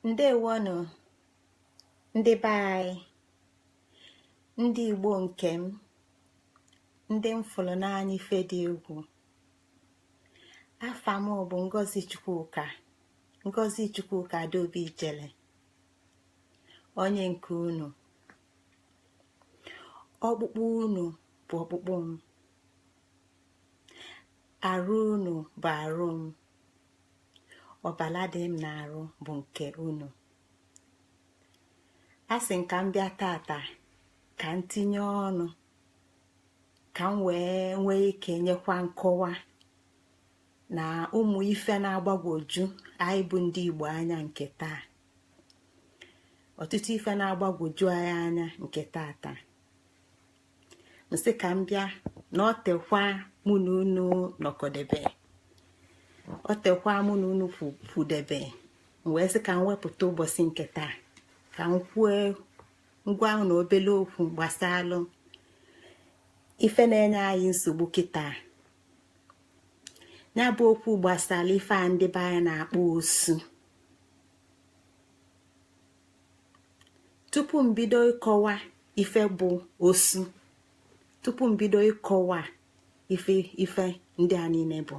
ndewonụ ndị be anyị ndị igbo nke m ndị m fụrụ n'anya ife dị egwu afa m bụ ngozi chukwuka ngozi chukwuka adaobi ijele onye nke unu ọkpụkpụ unu bụ ọkpụkpụ m arụ unu bụ arụ m ọbala dị m n'arụ bụ nke unu a sị m ka m bịa tata ka m tinye ọnụ ka m wee nwee ike nyekwa nkọwa na ụmụ ife na-agbagwoju anyị bụ ndị Igbo anya nke taa ọtụtụ ife na-agbagwoju anyị anya nke tata m sị ka m bịa na o teka mụ na unu nọkọdebe o teka mụ na unu kwudebe m wee sị ka m wepụta ụbọchị nke taa ka m kwue ngwa na obele okwu gbasalụ ife na-enye anyị nsogbu kịta ya bụ okwu gbasalụ ife a ndị be anyị na-akpọ osu tupu m bido ịkọwa ife bụ osu tupu m bido ịkọwa ife ife ndị a niine bụ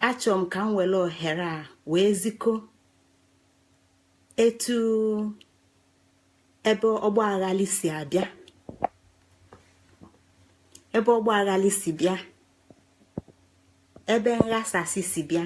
achọ m ka m were ohere a wee ziko etu ebe ọgba aghali si abịa ebe ọgba aghali si bịa ebe nghasasị si bịa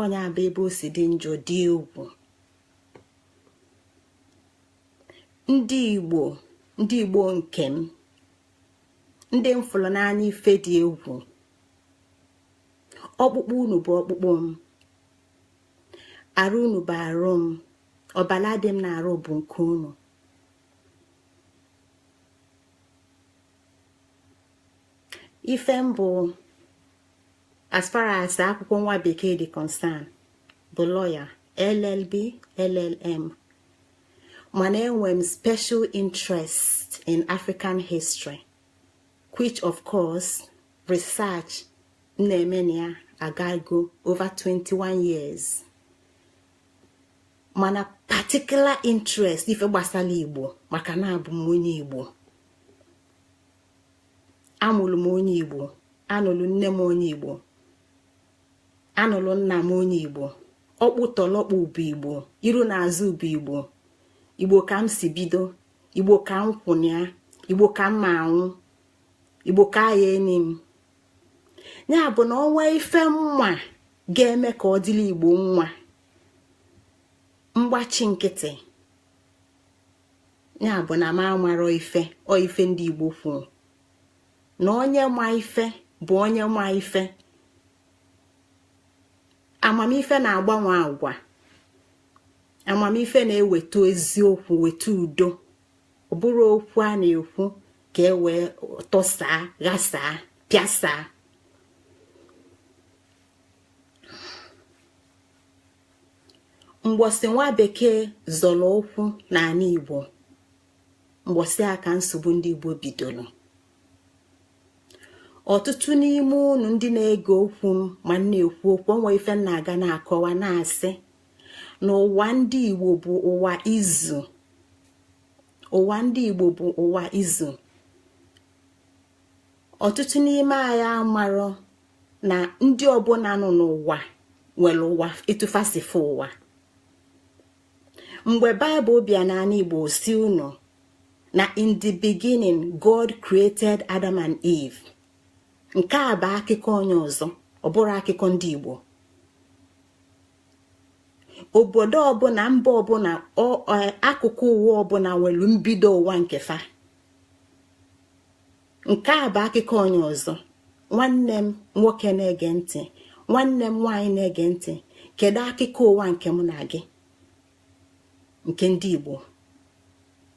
ọ nya bụ ebe o si dị njọ dị egwu ndị igbo ndị igbo nke m ndị m fụrụ n'anya ife dị egwu ọkpụkpụ unu bụ ọkpụkpụ m arụ unu bụ arụ m ọbala dị m n'arụ bụ nke unu ife m bụ as far as akwụkwọ nwa bekee dị concern bụ lawyer llb llm mana enwe m special interest in african history which of course research m na-eme na ya agago over 21 years mana particular interest ife gbasalụ igbo maka na abụ m onye igbo amụrụ m onye igbo anụrụ nne m onye igbo anụrụ nna m onye igbo ọkpụtọlọkpụ bụ igbo iru na azụ bụ igbo igbo ka m si bido igbo ka m kwụnịa igbo ka m ma anwụ igbo ka a ya-eni m ya bụ na onwe ife m ma ga-eme ka ọ dịlị igbo mma m gbachi nkịtị ya bụ na m amarọ ife ọ ife ndị igbo kwuru na onye ma ife bụ onye ma ife amamife na-agbanwe agwa amamife na-eweta eziokwu weta udo ọ bụrọ okwu a na-ekwu ka e wee tọsaa ghasaa pịasaa mgbọsị nwa bekee zọrọ ụkwụ n'anị igbo mgbọsị a ka nsogbu ndị igbo bidoro ọtụtụ n'ime unu ndị na-ege okwu m ma m na-ekwu okwu onwe ife m na-aga na-akọwa na-asị na ụwa ndị igbo bụ ụwa izu ụwa ndị igbo bụ ụwa izu ọtụtụ n'ime anyị amarọ na ndị ọbụna nọ n'ụwa nwere ụwa etu fa si fụ ụwa mgbe baịbụl bịa n'anị igbo sị unu na in the beginning god created adam and eve nke a bụ akụkọ onye ọzọ ọ bụrọ akụkọ ndị igbo obodo ọbụna mba ọbụna akụkụ ụwa ọbụna nwere mbido ụwa nke fa nke a bụ akụkọ onye ọzọ nwanne m nwoke na-ege ntị nwanne m nwaanyị na-ege ntị kedu akụkọ ụwa nke mụ na gị nke ndị Igbo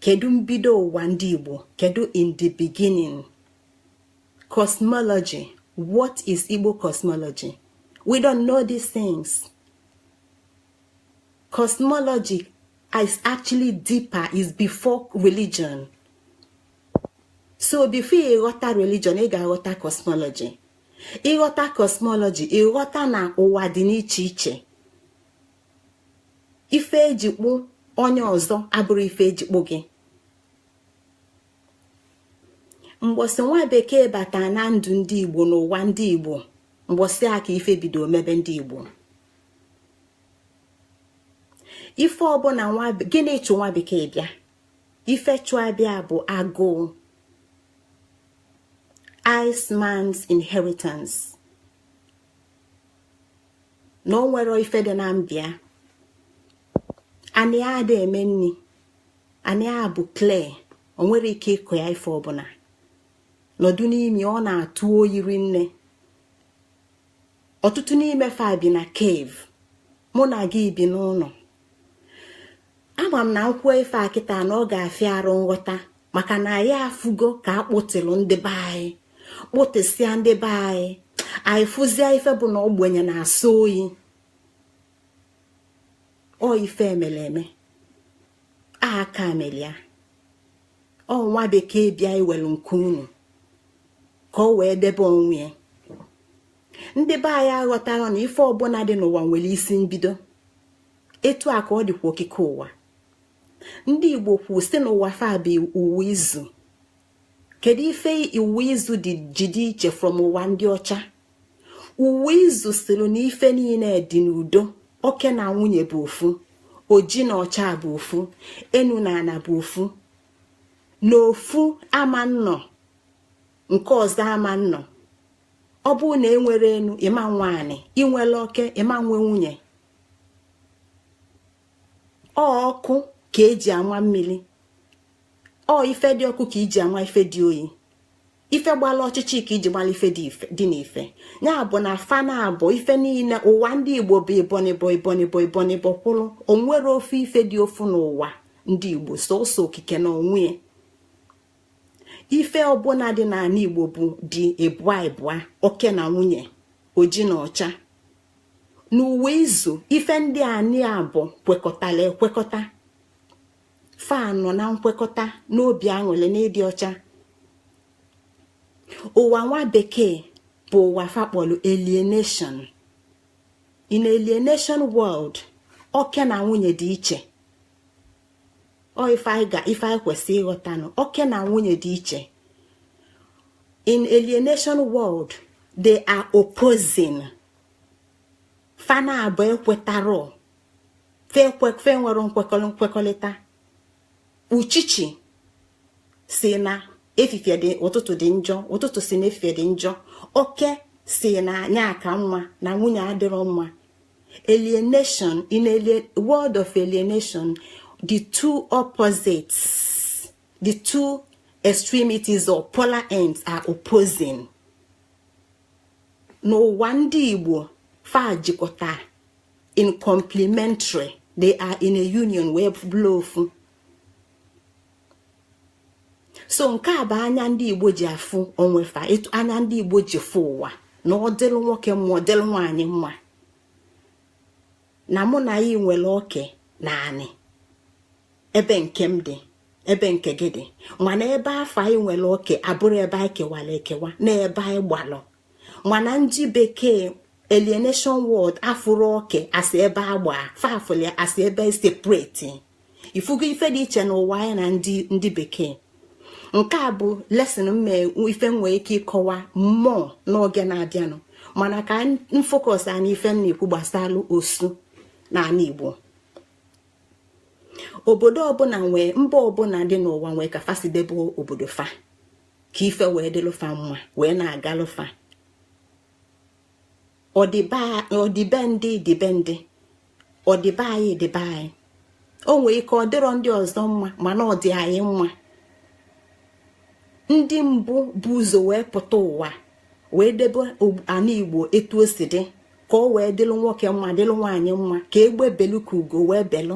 kedu mbido ụwa ndị Igbo kedu in the beginning cosmology what is Igbo cosmology we don't know these things cosmology is actually deeper is before religion so before ị ghọta religion ị ga-aghọta cosmology ị ghọta cosmology ị ghọta na ụwa dị n'iche iche ife eji kpụ onye ọzọ abụrọ ife eji kpụ gị mgbọsị nwa bekee bata na ndụ ndị igbo n'ụwa ndị igbo mgbọsị a ka ife bido mebe ndị igbo ife ọbụna nwa gịnị chụ nwa bekee bịa ife chụ ya bịa bụ agụụ Iceman's inheritance na o nwerọ ife dị na be ya anị a adị eme nni anị a bụ clay o nwerọ ike ịkọ ya ife ọbụna n'udu mmili ọ na-atụ oyi rinne ọtụtụ n'ime fa bi na cave mụ na gị bi n'ụnọ ama m na m kwuo ife a kịta na ọ ga-afịa arụ nghọta maka na anyị afụgo ka a kpụtịlụ ndị be anyị kpụtịsịa ndị be anyị anyị fụzie ife bụ na ogbenye na-asọ oyi ọ ife e mele eme aka mele ya ọ nwa bekee bịa iwelu nke unu ka o wee debe onwe ya ndị be anyị aghọtarọ na ife ọbụna dị n'ụwa nwere isi mbido etu a ka ọ dịkwa okike ụwa ndị igbo kwu sị na ụwa fa bụ ụwa izu kedu ife ụwa izu dị ji dị iche from ụwa ndị ọcha ụwa izu sịrị na ife niine dị n'udo oke na nwunye bụ ofu oji na ọcha bụ ofu enu na ana bụ ofu na ofu ama nọ nke ọzọ ama nọ ọ bụrụ na e nwerọ enu ị ma nwe anị i nwerọ oke ị ma nwe nwunye ọ ọkụ ka e ji ama mmili ọ ife dị ọkụ ka i ji ama ife dị oyi ife gbala ọchịchị ka i ji mala ife dị n'ife ya bụ na fa naabọ ife niine ụwa ndị igbo bụ ibụọ n'ibụọ kwụrụ o nwerọ ofu ife dị ofu n'ụwa ndị igbo sọsọ okike n'onwe ya ife ọbụna dị n'anị igbo bụ dị ibụa ibụa oke na nwunye oji na ọcha n'ụwa izu ife ndị a naabọ kwekọtala ekwekọta fa nọ na nkwekọta n'obi aṅụlị na ịdị ọcha ụwa nwa bekee bụ ụwa fa kpọlụ alienation in alienation world oke na nwunye dị iche ọ ife anyị kwesị ịghọtanụ oke na nwunye dị iche in alienation world they are opposing fa naabọ ekwetarọ fa enwere nkwekọrịta uchichi sị na efifie dị ụtụtụ dị njọ ụtụtụ sị na efifie dị njọ oke sị na nya ka mma na nwunye adịrọ mma alienation in a world of alienation the two opposites the two extremities or polar ends are opposing n'ụwa ndị igbo fa jikọta in complementary they are in a union wee bụrụ ofu so nke a bụ anya ndị igbo ji afụ onwe fa etu anya ndị igbo ji fụ ụwa na ọ dịlụ nwoke mma ọ dịlụ nwaanyị mma na mụ na gị nwere oke na anị ebe nke m dị ebe nke gị dị mana ebe afụ anyị nwere oke abụrọ ebe anyị kewara ekewa na ebe anyị gbalụ mana ndị bekee alienation world a fụrụ oke as ebe agba fa fụlụ ya as ebe separate ị fụgo ife dị iche n'ụwa anyị na ndị ndị bekee nke a bụ lesson m ife nwee ike ịkọwa more n'oge na-abịanụ mana ka m focus n'ife m na-ekwu gbasalụ osu n'ala Igbo obodo ọbụla nwee mba ọbụla dị n'ụwa nwee ka fa si debe obodo fa ka ife wee dịlụ fa mma wee na-agalụ fa ọ dị be ndị dị be ndị ọ dị be anyị dị be anyị o nwee ike ọ dịrọ ndị ọzọ mma mana ọ dị anyị mma ndị mbụ bu ụzọ wee pụta ụwa wee debe ana igbo etu o si dị ka o wee dịlụ nwoke mma dịlụ nwaanyị mma ka egbe belu ka ugo wee belu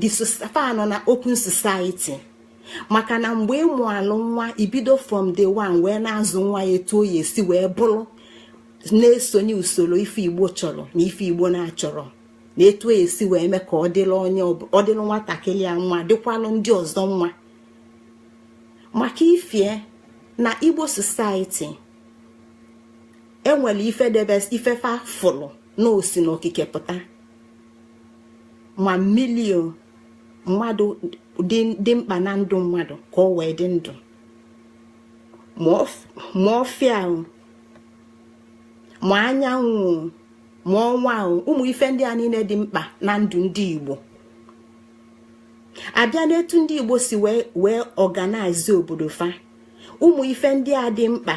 the society nọ na open society maka na mgbe ị mụalụ nwa i bido from day one wee na-azụ nwa ya etu ọ ya-esi wee bụrụ na-esonye usoro ife igbo chọrọ na ife igbo na-achọrọ na etu ọ ya-esi wee mee ka ọ dịrị onye ọ dịrị nwatakịrị ya mma dịkwalụ ndị ọzọ mma maka i fee na igbo society e nwere ife dị basic ife fa fụrụ na o si na okike pụta ma mmili o mmadụ dị mkpa na ndụ mmadụ ka o wee dị ndụ ma ọfịa o ma anyanwụ o ma ọnwa o ụmụ ife ndị a niine dị mkpa na ndụ ndị Igbo a bịa n'etu ndị Igbo si wee organize obodo fa ụmụ ife ndị a dị mkpa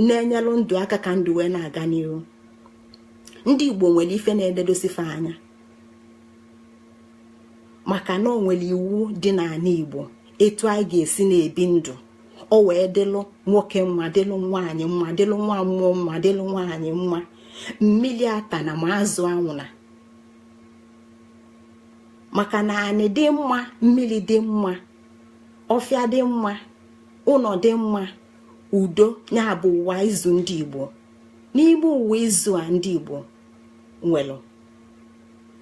na-enyelụ ndụ aka ka ndụ wee na-aga n'iru ndị igbo nwere ife na-ededosi fa anya maka na o nwere iwu dị n'anị igbo etu anyị ga-esi na-ebi ndụ o wee dịlụ nwoke mma dịlụ nwaanyị mma dịlụ nwa mmụọ mma dịlụ nwaanyị mma mmili atana ma azụ anwụna maka na anị dị mma mmili dị mma ọfịa dị mma ụnọ dị mma udo nya bụ ụwa izu ndị igbo n'ime ụwa izu a ndị igbo nwelụ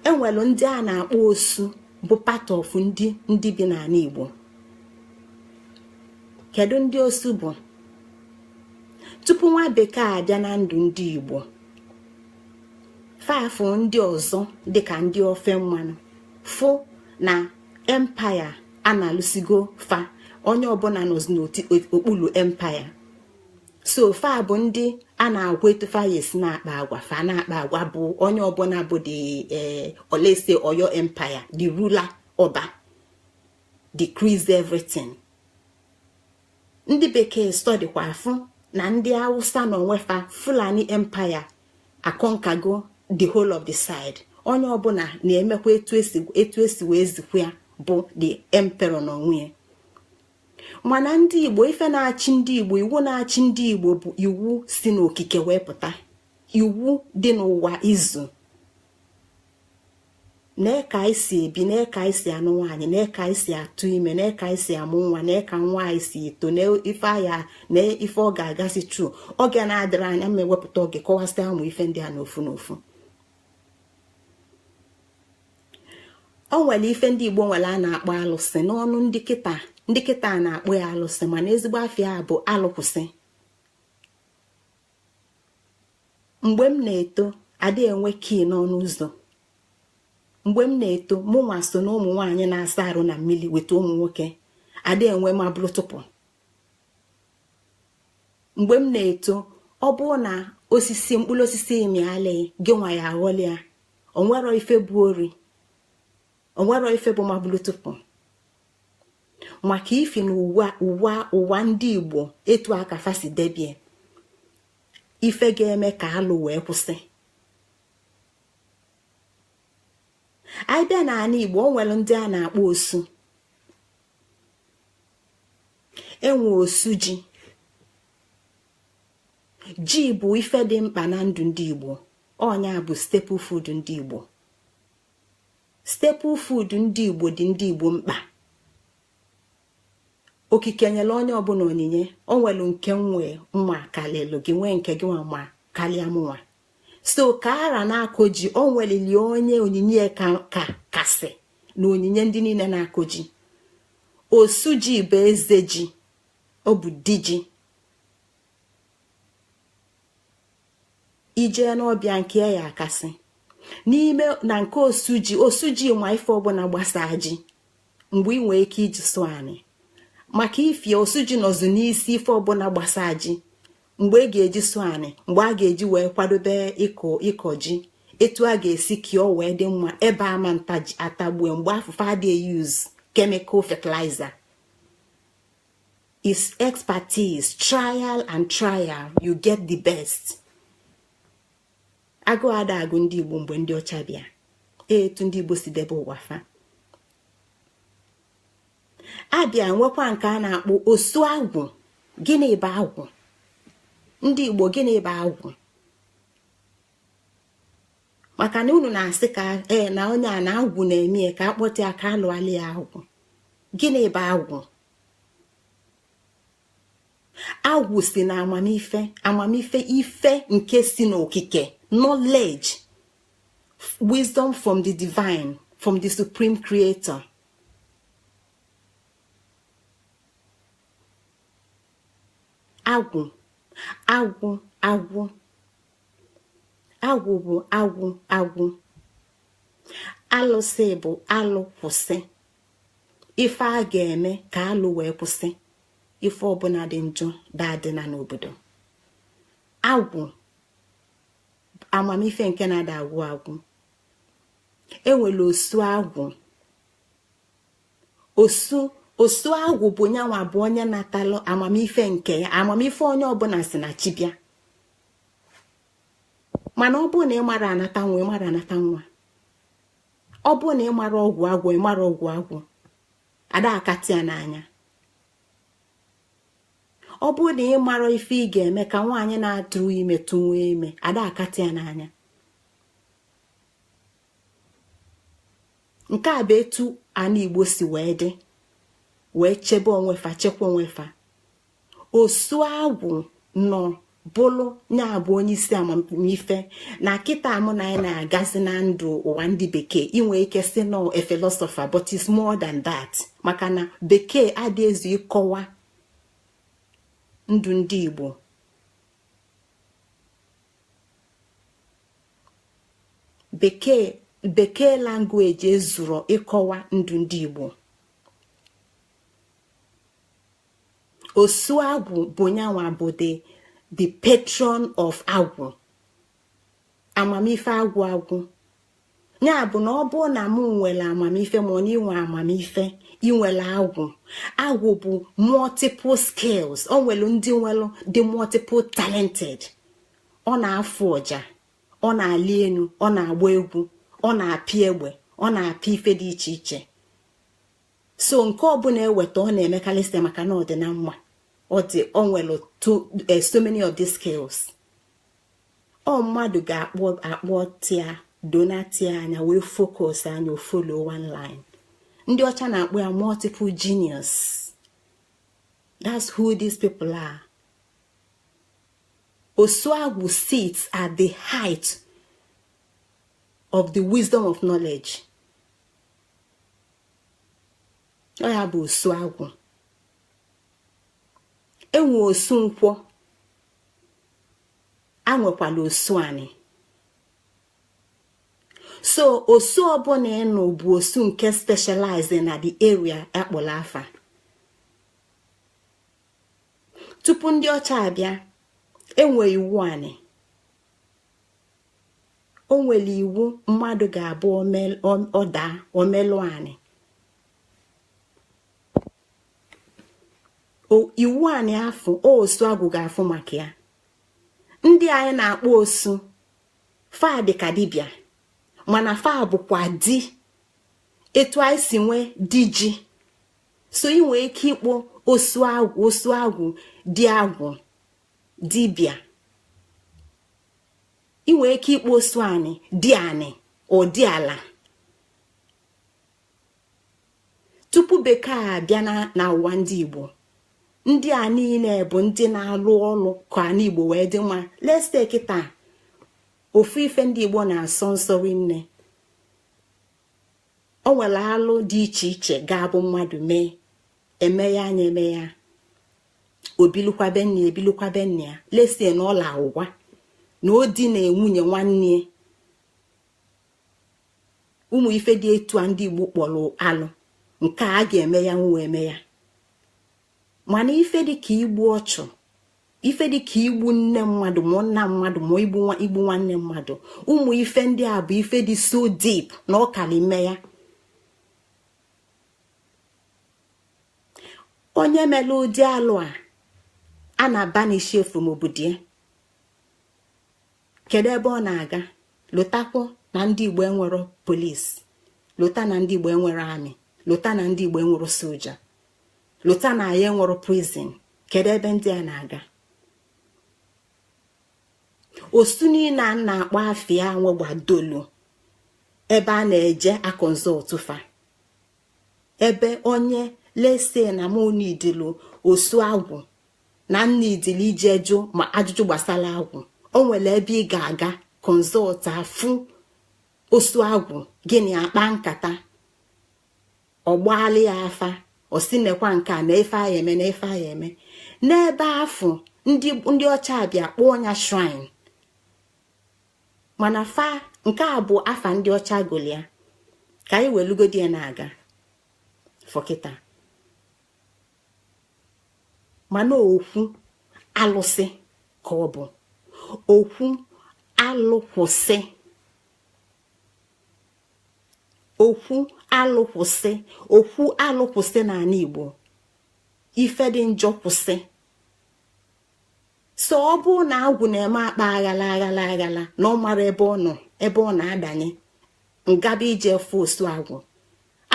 e nwelụ ndị a na-akpọ osu bụ part of ndị bi n'anị igbo kedu ndị osu bụ tupu nwa bekee abịa na ndụ ndị igbo fa afụ ndị ọzọ dịka ndị ofe mmanụ fụ na empire analụsigo fa onye ọbụna nọzi n'okpulu empire so fa bụ ndị a na-agwa etu fa ya-esi na-akpa agwa fa na-akpa agwa bụ onye ọbụna bụ the eh oh let's say oyo empire the ruler ọba decrees everything ndị bekee study kwa afụ na ndị awụsa na onwe fa fulani empire aconquergo the whole of the side onye ọbụna na-emekwa etu e si wee zikwa ya bụ the emperor na onwe ya mana ndị igbo ife na-achị ndị igbo iwu na-achị ndị igbo bụ iwu si n'okike wee pụta iwu dị n'ụwa izu na ka anyị si ebi na ka anyị si anụ nwaanyị na ka anyị si atụ ime na ka anyị si amụ nwa na ka nwa anyị si eto na ife ọ ya na ife ọ ga-agasị through oge na-adịrị anya ma e wepụta oge kọwasịa ụmụ ife ndị a n'ofu n'ofu o nwere ife ndị igbo nwere a na-akpọ alụsị n'ọnụ ndị kịta ndị kịta na-akpọ ya alụsị mana ezigbo afa ya bụ alụkwụsị mgbe m na-eto adị enwe key n'ọnụ ụzọ mgbe m na-eto mụ nwa so na ụmụ nwaanyị na-asa arụ na mmili weta ụmụ nwoke adị enwe ma bụrụ tụpụ mgbe m na-eto ọ bụrụ na osisi mkpụlụ osisi mịalụ gị nwa ya-aghọlị ya o nwerọ ife bụ ori o nwerọ ife bụ mabulutupu maka ifi na ụwa ndị igbo etu aka fa si debie ife ga-eme ka alụ wee kwụsị ị bịa n'anị igbo o nwere ndị a na-akpọ osu e nwee osu ji ji bụ ife dị mkpa na ndụ ndị igbo ọ nya bụ staple food ndị igbo staple food ndị igbo dị ndị igbo mkpa okike nyere onye ọbụna onyinye o nwelu nke mụnwa kalịlụ gị nwee nke gị nwa ma kalịa mụnwa so ka ọra na-akọ ji o nwelili onye onyinye ya kasị na onyinye ndị niile na-akọ ji osu ji bụ eze ji ọ bụ di ji ị jee n'ọba ya nke ya akasị n'ime na nke osu ji osu ji ma ife ọbụna gbasaa ji mgbe ị nwee ike iji sụọ anị maka ifie osu ji nọzu n'isi ife ọbụna gbasaa ji mgbe e ga-eji sụọ anị mgbe a ga-eji wee kwadobe ịkọ ịkọ ji etu a ga-esi kọọ ya ọ wee dị mma ebe ama atagbue mgbe afụ fa ada e-use chemical fertilizer is expertise trial and trial you get the best agụụ ada agụ ndị igbo mgbe ndị ọcha bịa etu ndị igbo si debe ụwa fa a bịa nwekwa nke a na-akpọ osu agwụ gịnị bụ agwụ ndị igbo gịnị bụ agwụ maka na unu na-asị ka ee na onye a na agwụ na-eme ya ka a kpọta ya ka a lụalụ ya agwụ gịnị bụ agwụ agwụ si na amamife amamife ife nke si n'okike knowledge wisdom from the divine from the supreme creator agwụ agwụ agwụ agwụ bụ agwụ agwụ alụsị bụ alụ kwụsị ife a ga-eme ka alụ wee kwụsị ife ọbụna dị njọ daadịna n'obodo agwụ amamife nke na-ada agwụ agwụ e nwelu osu agwụ osu osu agwụ bụ nyanwa bụ onye natalụ amamife nke ya amamife onye ọbụna si na chi bịa mana ọ bụrụ na ị mara anata nwa ị mara anata nwa ọ bụrụ na ị mara ọgwụ agwọ ị mara ọgwụ agwọ ada akatị ya n'anya ọ bụrụ na ị mara ife ị ga-eme ka nwaanyị na-adịrọ ime tụwa ime ada akatị ya n'anya nke a bụ etu ana igbo si wee dị wee chebe onwe fa chekwa onwe fa osu agwụ nọ bụlụ ya bụ onye isi amamife na kịta mụ na anyị na-agazi na ndụ ụwa ndị bekee inwe ike sị na ọ a philosopher but it's more than that maka na bekee adị ezu ịkọwa ndụ ndị igbo bekee bekee language ezurọ ịkọwa ndụ ndị igbo osu agwụ bụ nyanwa bụ the the patron of agwụ amamife agwụ agwụ nya bụ na ọ bụ na mụ nwere amamife ma ọ na inwe amamife inwere agwụ agwụ bụ multiple skills o nwere ndị nwere dị multiple talented ọ na-afụ ọja ọ na-ali enu ọ na-agba egwu ọ na-apị egbe ọ na-apị ife dị iche iche so nke ọbụla eweta ọ na-emekarị site maka na ọ dị na mma ọ dị o nwere eh, so many of these skills ọ mmadụ ga-akpọ akpọ tia donatia anya wee focus anya ọ follow one line ndị ọcha na-akpọ ya multiple genius that's who these people are osu agwụ sits at the height of the wisdom of knowledge ọ ya bụ osu agwụ enwe osu nkwọ enwekwala osu anị so osu ọbụla ị nụ bụ osu nke specialize na the area akpọrọ afa tupu ndị ọcha abịa enwe iwu anị o nwere iwu mmadụ ga-abụ ọ daa o melụ anị iwu anị afụ osu agwụ ga-afụ maka ya ndị anyị na-akpọ osu fa dịka dibịa mana fa bụkwa di etu anyị si nwee di ji so ị nwee ike ịkpọ osu agwụ osu agwụ di agwụ dibịa ị nwere ike ịkpọ osu anị di anị or di ala tupu bekee abịa na ụwa ndị igbo ndị a niile bụ ndị na-alụ ọlụ ka anị igbo wee dị mma let's take kịta ofu ife ndị igbo na-asọ nsọ rinne o nwere alụ dị iche iche ga-abụ mmadụ mee eme ya anya eme ya o bilukwa be nne o bilukwa be nne ya let's say na ọla ụgwa na o dina nwunye nwanne ụmụ ife dị etu a ndị igbo kpọrọ alụ nke a ga-eme ya nwa eme ya mana ife dịka igbu ọchụ ife dịka igbu nne mmadụ ma nna mmadụ ma igbu nwanne mmadụ ụmụ ife ndị a bụ ife dị so deep na ọ kalị ime ya onye mere ụdị alụ a a na-abanish ya from obodo ya kedu ebe ọ na-aga lotakwa na ndị igbo enwero police lota na ndị igbo enwero army lota na ndị igbo enwero soja lota na anyị enwero prison kedu ebe ndị a na-aga osu niile a na-akpọ afa ya nwegbadolu ebe a na-eje aconsult fa ebe onye let's say na mụ needili osu agwụ na m needili ije jụọ ma ajụjụ gbasara agwụ o nwere ebe ị ga-aga consult afụ osu agwụ gị na ya akpaa nkata ọ gbaalị afa ọ sị nekwa nke a na ife a eme na ife a eme n'ebe afụ ndị ọcha abịa kpọọ ya shrine mana afa nke a bụ afa ndị ọcha gụlụ ya ka anyị welugodi ya na-aga for kịta mana okwu alụsị ka ọ bụ okwu alụ kwụsị okwu alụ kwụsị okwu alụ kwụsị n'anị Igbo ife dị njọ kwụsị so ọ bụ na agwụ na-eme akpa aghala aghala na ọ mara ebe ọ nọ ebe ọ na-adanye m gaba ije afụ osu agwụ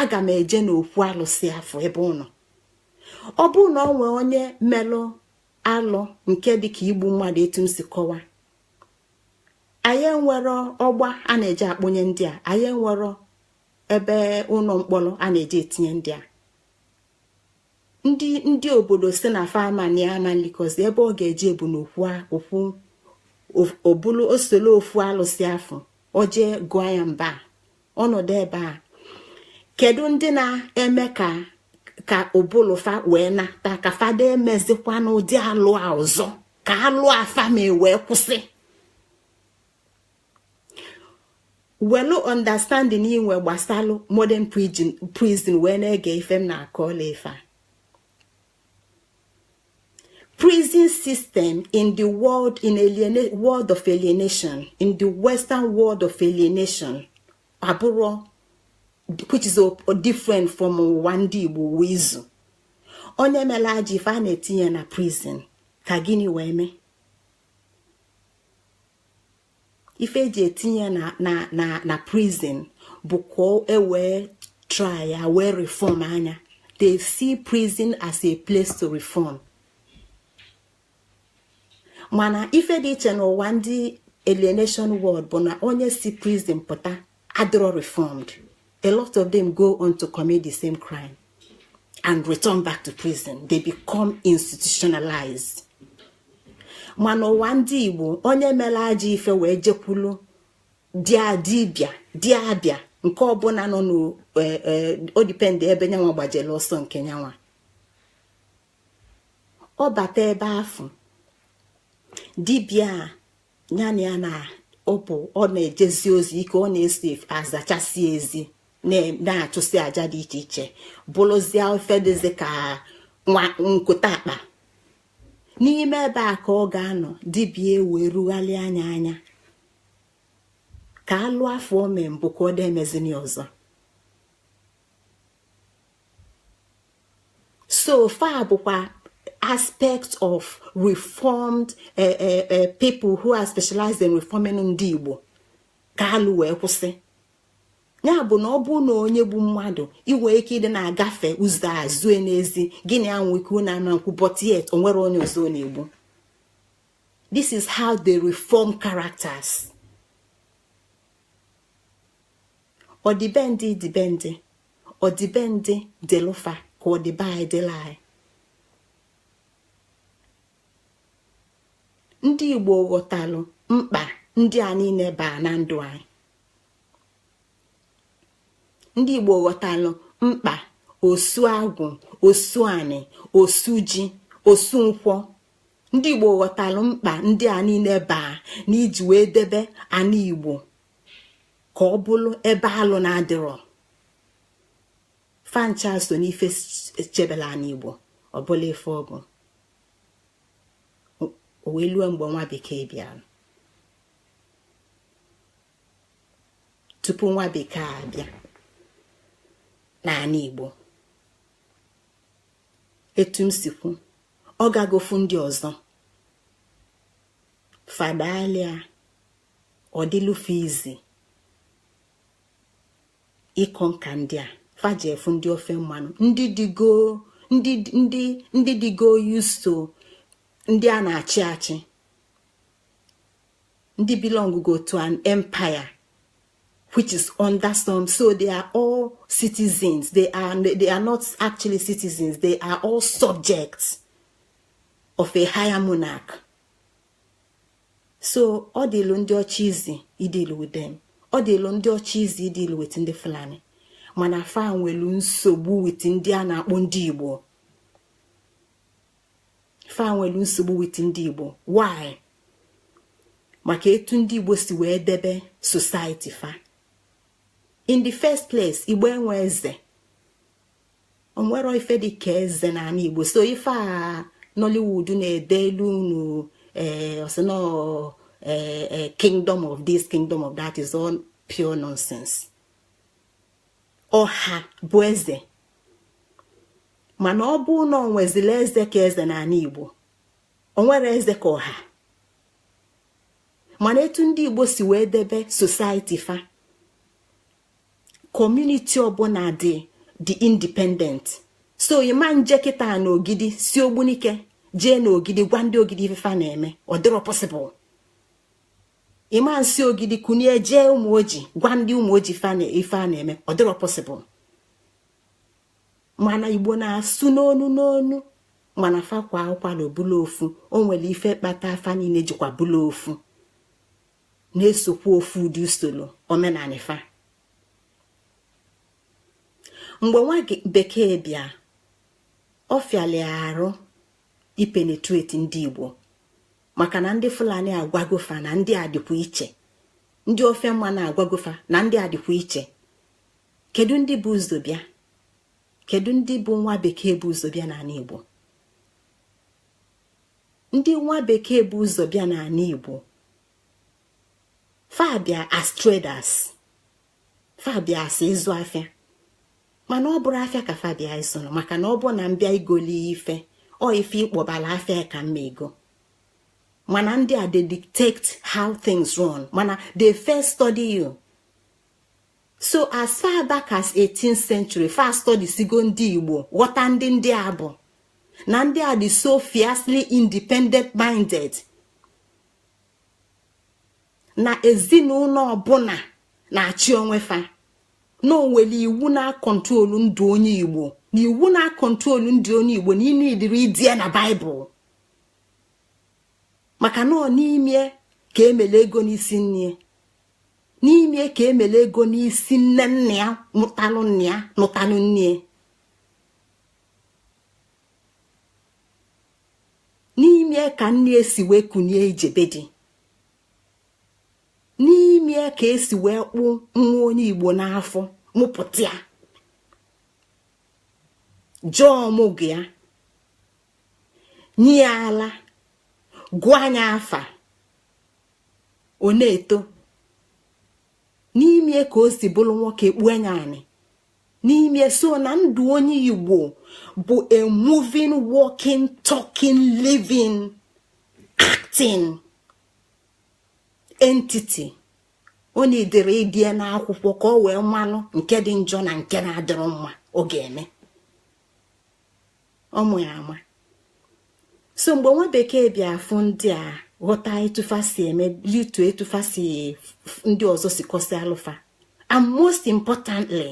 aga m eje n'okwu alụsị afụ ebe ọ nọ ọ bụ na o nwee onye melụ alụ nke dịka igbu mmadụ etu m si kọwa anyị enwero ọgba a na-eji akpụnye ndị a anyị enwero ebe ụnọ mkpọrọ a na-eji etinye ndị a ndị ndị obodo sị na fa na ya ama elikọzi ebe ọ ga-eje bụ n'okwu okwu o bulu ọsọ luo okwu alụsị afụ o je gụọ ya mba ọ nọdụ ebe a kedu ndị na-eme ka ka ọ bụlụ fa wee nata ka fa da emezikwana ụdị alụ a ọzọ ka alụ a fa me wee kwụsị welu understanding i nwe gbasalụ modern prison wee na-ege ife m na-akọ ọla ife a prison system in the world in aliena world of alienation in the western world of alienation abụrọ which is a, different from ụwa ndị Igbo uwe izu onye melụ ajọ ife a na-etinye na prison ka gịnị wee mee ife e ji etinye ya na na na prison bụ ka e wee try ya wee reforma nya they see prison as a place to reform mana ife dị iche n'ụwa ndị alienation world bụ na onye si prison pụta adịrọ reformed a lot of them go on to commit the same crime and return back to prison they become institutionalized mana ụwa ndị igbo onye melụ ajọ ife wee jekwulu dia dibịa di abịa nke ọbụna nọ ọ depend e, e, ebe nyanwa gbajelụ ọsọ nke nyanwa ọ bata ebe afụ dibịa ya na ya na ọpụ ọ na-ejezi ozi ike ọ na-esi azachasị ezi na-achụsị aja dị iche iche bụlụzie ife dịzi ka nwa nkụta akpa n'ime ebe a ka ọ ga-anọ dibịa wee rugharịa nya anya ka alụ afụ o me mbụ ka ọ dị emezini ọzọ so fa bụkwa aspect of reformed uh, uh, uh, people who are specialized in reforming ndị Igbo ka alụ wee kwụsị ya bụ na ọ bụrụ na onye gbu mmadụ i nwe ike ịdị na-agafe ụzọ a zue n'ezi gị na ya nwe ike unu ama nkwụ but yet o nwerọ onye ọzọ ọ na-egbu this is how they reform characters ọdịbendị dịbendị ọdịbendị dịlụ fa ka ọdịbe anyị dịlụ anyị ndị igbo ghọtalụ mkpa ndị a niine baa na ndụ anyị ndị igbo ghọtalụ mkpa osu agwụ osu anị osu ji osu nkwọ ndị igbo ghọtalụ mkpa ndị a niine baa na iji wee debe ana igbo ka ọ bụlụ ebe alụ na-adịrọ fa ncha so n'ife chebelụ anị igbo ọ bụlụ ife ọ bụ o wee lue mgbe nwa bekee bịa tupu nwa bekee abịa n'anị igbo etu m si kwu ọ gagofu ndị ọzọ fadalia ọ dịlụ fa easy ịconquer ndị a fa jee fụ ndị ofe mmanụ ndị dịgo ndị ndị ndị dịgo used to ndị a na-achị achị ndị belong go to an empire which is under some so they are all citizens they are they are not actually citizens they are all subjects of a higher monarch so ọ dịlụ ndị ọcha easy ideal with dem ọ dịlụ ndị ọcha easy ideal with ndị fulani mana fa nwelu nsogbu with ndị a na-akpọ ndị igbo fa nwelu nsogbu with ndị igbo why maka etu ndị igbo si wee debe society fa in the first place igbo enwe eze o nwerọ ife dị ka eze n'anị igbo so ife a nollywood na-edelu unu ee eh, ọ sị na ee eh, eh, kingdom of this kingdom of that is all pure nonsense ọha bụ eze mana ọ bụ na o nwezila eze ka eze n'anị igbo o nwerọ eze ka ọha mana etu ndị igbo si wee debe society fa community ọbụna dị dị independent so ị ma nje kịta na ogidi si ogbunike jee na ogidi gwa ndị ogidi ife fa na-eme ọ dịrọ possible ị ma nsi ogidi kunie jee ụmụoji gwa ndị ụmụoji ife a na-eme ọ dịrọ possible mana igbo na-asụ n'onu n'onu mana fa kwaa ụkwala ọ bụlụ ofu o nwelu ife kpata fa niine jikwa bụlụ ofu na-esokwa ofu ụdị usolo omenanị fa mgbe nwa bekee bịa ọ fịalụ arụ ipenetrate ndị igbo maka na ndị fulani agwago fa na ndị a dịkwa iche ndị ofe mmanụ agwago fa na ndị a dịkwa iche kedu ndị bu ụzọ bịa kedu ndị bụ nwa bekee bu ụzọ bịa n'anị igbo ndị nwa bekee bu ụzọ bịa n'anị igbo fa bịa as traders fa bịa as ịzụ afịa mana ọ bụrọ afịa ka fa bịa ịzụlụ maka na ọ bụ na m bịa igoli ife or ife ịkpọbala afịa ka mma ego mana ndị a they dictate how things run mana they first study you so as far back as 18th century fa studiesigo ndị igbo ghọta ndị ndị a bụ na ndị a dị so fiercely independent minded na ezinụlọ ọbụla na-achị onwe fa na onwere iwu na-akọntrolu ndụ onye igbo na iwu na-akọntrolu ndụ onye igbo na ịnụ edere ede na baịbụl maka na ọ n'ime ka emele ego n'isi nne n'ime ka emele ego n'isi nne nne ya nụtalụ nne ya nụtalụ nne ya n'ime ka nne si wee kunie ije be di n'ime ka esi wee kpụ nwa onye igbo n'afọ mụpụta ya jee ọmụgwọ ya nye ya ala gụnye ya afa ọ na-eto n'ime ka o si bụrụ nwoke kpuo anya anị n'ime so na ndụ onye igbo bụ a moving walking talking living acting entity ọ na-edere ede n'akwụkwọ ka o wee malụ nke dị njọ na nke na-adịrọ mma ọ ga-eme ọ mụ ya ama so mgbe nwa bekee bịa afụ ndị a ghọta etu fa si eme litu etu fa si ndị ọzọ si kọsị alụ fa and most importantly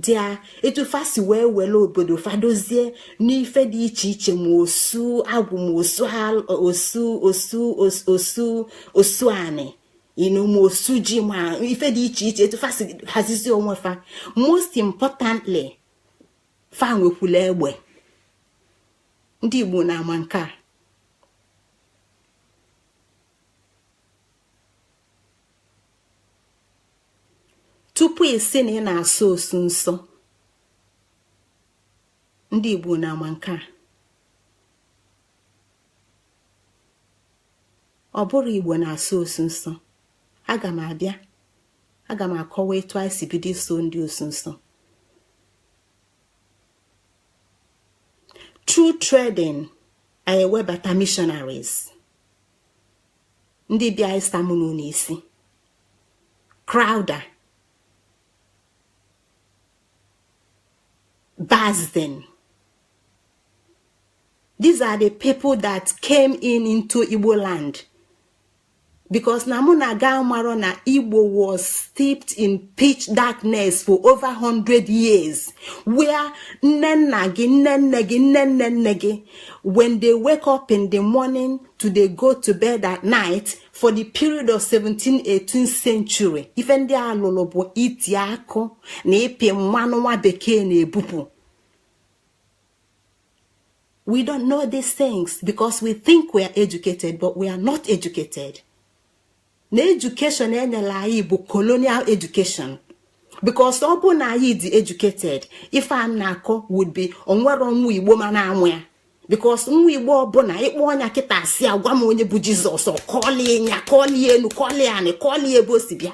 dia etu fa si wee wele obodo fa dozie n'ife dị iche iche ma osu agwụ ma osu osu anị inu ma osu ji ma ife dị iche iche etu fa si hazizi onwe fa most importantly fa nwekwula egbe ndị igbo na-ama nke a tupu ị sị na ị na-asọ osu nsọ ndị igbo na-ama nke a ọ bụrọ igbo na-asọ osu nsọ aga m abịa aga m akọwa etu anyị si bido ịsọ ndị osu nsọ through trading anyị ewebata missionaries ndị bịa ịsamụnụ n'isi Crowther Basden these are the people that came in into Igbo land because na mụ na gị amarọ na igbo was steeped in pitch darkness for over 100 years where nne nna gị nne nne gị nne nne nne gị when they wake up in the morning to they go to bed at night for the period of 17th 18th century ife ndị a lụlụ bụ iti akụ na ịpị mmanụ nwa bekee na-ebupụ we don't know these things because we think we are educated but we are not educated na education e nyelu anyị bụ colonial education because ọ bụ na anyị dị educated ife a na-akọ would be onwerọ nwa igbo ma na-amụ ya because nwa igbo ọbụna ị kpọọ nya kịta sị ya gwa m onye bụ Jesus ọ kọlie nya kọlie enu kọlie anị kọlie ebe o si bịa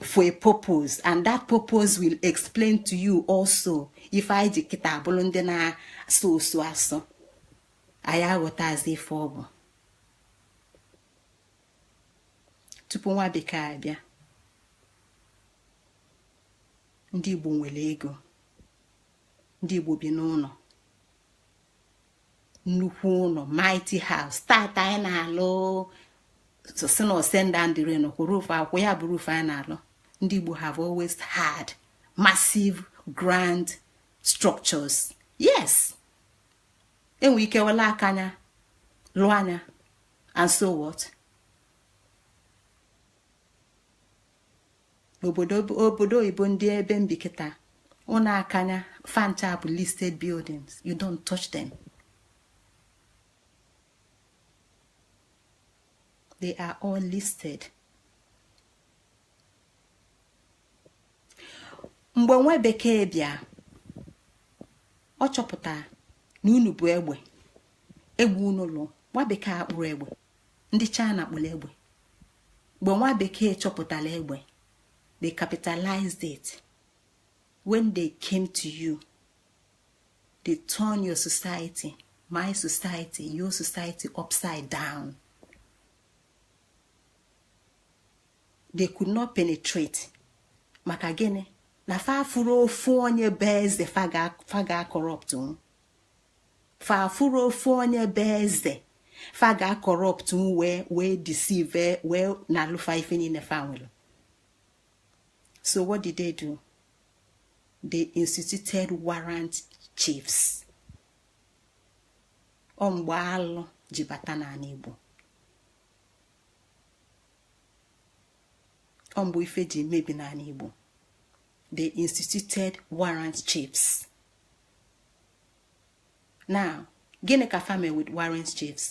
for a purpose and that purpose will explain to you also ife anyị ji kịta bụlụ ndị na-asụ osu asụ anyị aghọtazi ife ọ bụ tupu nwa bekee abịa ndị Igbo nwere ego ndị Igbo bi n'ụnọ nnukwu ụnọ mighty house tata anyị na-alụ sị na ọ send down the rain roof ọkwa ya bụ roof anyị na-alụ ndị Igbo have always had massive grand structures yes e nwe ike welu akanya lụọ nya and so what obodo obodo oyibo ndị ebe m bi kịta ụnọ akanya fa ncha bụ listed buildings you don't touch them they are all listed mgbe nwa bekee bịa ọ chọpụta na unu bu egbe egbe unu lụọ nwa bekee akpụrọ egbe ndị china kpụlụ egbe mgbe nwa bekee chọpụtalụ egbe they capitalized it when they came to you they turn your society my society your society upside down they could not penetrate maka gịnị na fa afụrọ ofu onye bụ eze fa ga-corrupt fa afụrọ ofu onye bụ eze fa ga-corrupt wee wee deceive wee nalụ fa ife niine fa nwelu so what did they do they instituted warrant chiefs ọ mgbe alụ ji bata n'anị Igbo ọ mgbe ife ji mebi n'anị Igbo they instituted warrant chiefs now gịnị ka fa mee with warrant chiefs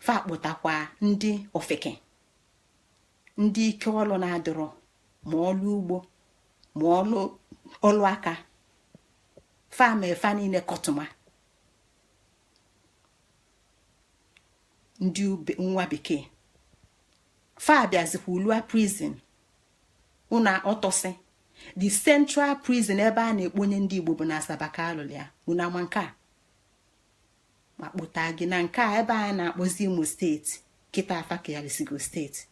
fa kpụtakwa ndị ofeke ndị ike ọlụ na-adịrọ ma ọlụ ugbo ma ọlụ ọlụ aka fa mee fa niile kọtụma ndị nwa bekee fa bịazikwa lụa prison ụna ọtọsị the central prison ebe a na-ekponye ndị igbo bụ na asaba ka a lụlụ ya unu ama nke a ma kpụta gị na nke a ebe a na-akpọzi imo steeti kịta a fa kealisigo steeti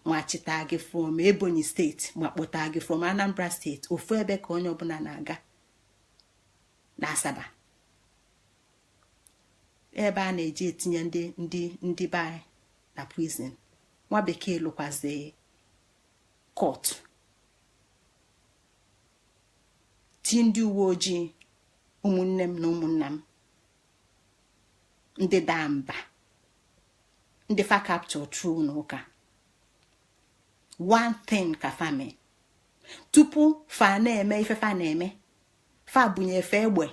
ma chịta gị from ebonyi steeti ma kpụta gị from anambra steeti ofu ebe ka onye ọbụla na-aga na asaba ebe a na-eji etinye ndị ndị ndị be anyị na prison nwa bekee lụkwazi court ti ndị uwe ojii ụmụnne m na ụmụnna m ndị daa mba ndị fa capture through n'ụka one thing ka fa mee tupu fa na-eme ife fa na-eme fa bunye fa egbe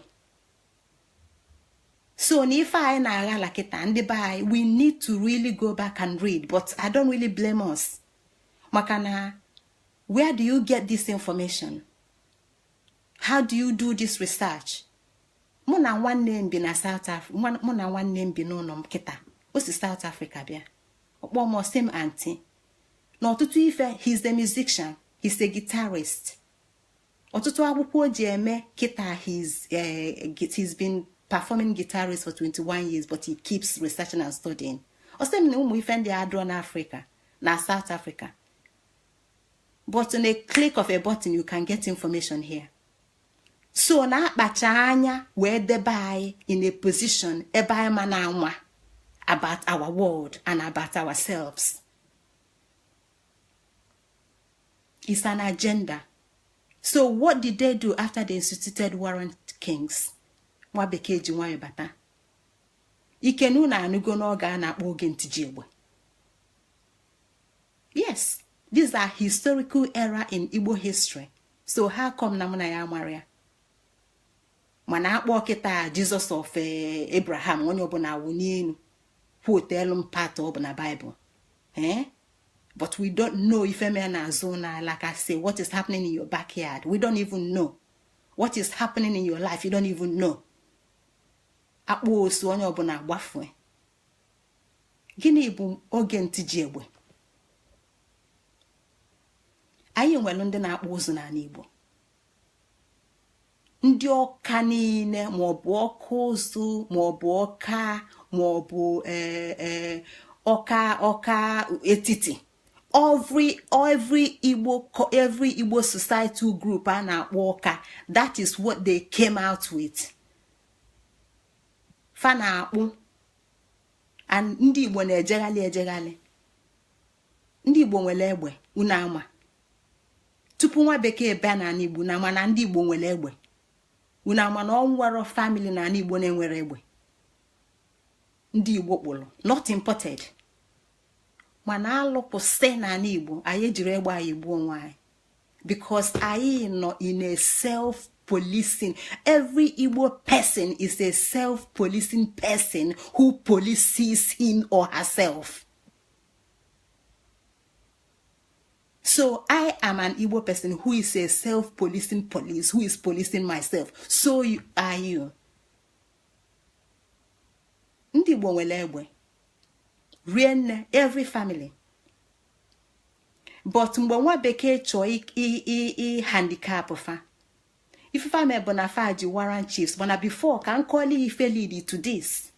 so na ife anyị na-aghala kịta ndị be anyị we need to really go back and read but i don't really blame us maka na where do you get this information how do you do this research mụ na nwanne m bi na south africa mụ na nwanne m bi n'ụlọ m kịta o si south africa bịa ọ kpọọ m ọ sị m auntie n'ọtụtụ ife he's a musician he's a guitarist ọtụtụ akwụkwọ o ji eme kịta he's eh, he's been performing guitarist for 21 years but he keeps researching and studying ọ sị m na ụmụ ife ndị a adịrọ n'africa na south africa but on a click of a button you can get information here so na a kpacha anya wee debe anyị in a position ebe anyị ma na-anwa about our world and about ourselves. it's an agenda so what did they do after they instituted warrant kings nwa bekee ji nwayọ bata ikenu unu anụgo n'oge a na-akpọ oge ntiji egbe yes these are historical era in igbo history so how come na mụ na ya amarọ ya mana a kpọọ kịta jesus of eh, abraham onye ọbụla awụ n'elu quotelu m part ọ bụ na bible ee eh? but we don't know ife mere n'azụ ụlọ anyị like I say what is happening in your backyard we don't even know what is happening in your life you don't even know a kpọọ osu onye ọbụla agbafue gịnị bụ oge ntiji egbe anyị nwere ndị na-akpụ ụzụ n'ala Igbo ndị ọka niile maọbụ ọka ụzụ maọbụ ọka maọbụ e, e, ọka ọka etiti every every igbo every igbo societal group a na-akpọ ọka that is what they came out with fa na-akpụ and ndị igbo na-ejeghalị ejeghalị ndị igbo nwere egbe unu ama tupu nwa bekee bịa na anị igbo unu ama na ndị igbo nwere egbe unu ama na o nwero family na anị igbo na-enwero egbe ndị igbo kpụrụ not imported mana alụkwụsị na anị igbo anyị ejiri egbe anyị gbuo onwe anyị because anyị nọ in a self policing every igbo person is a self policing person who polices him or herself. So I am an Igbo person who is a self-policing police, who is policing myself. So are you. Ndị Igbo nwere egbe rinne, every family. But mgbe nwa bekee chọọ ị handicap fa. Ife fa mee bụ na fa ji warrant chiefs, mana before ka m kọọla ife lead to this.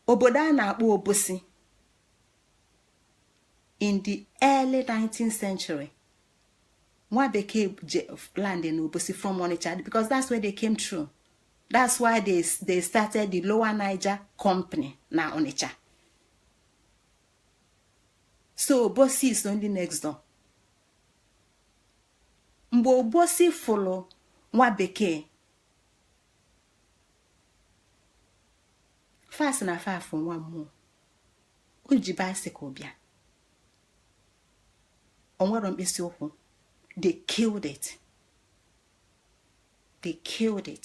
Obodo a na-akpọ Obosi. in the early 19th century nwa bekee land in obosi from onitsha because that's where they came through that's why they, they started the lower niger company na onitsha so obosi is only next door mgbe obosi fụlụ nwa bekee fa sị na fa fụ nwa mmụọ o ji bicycle bịa o nwero mkpịsị ụkwụ they killed it they killed it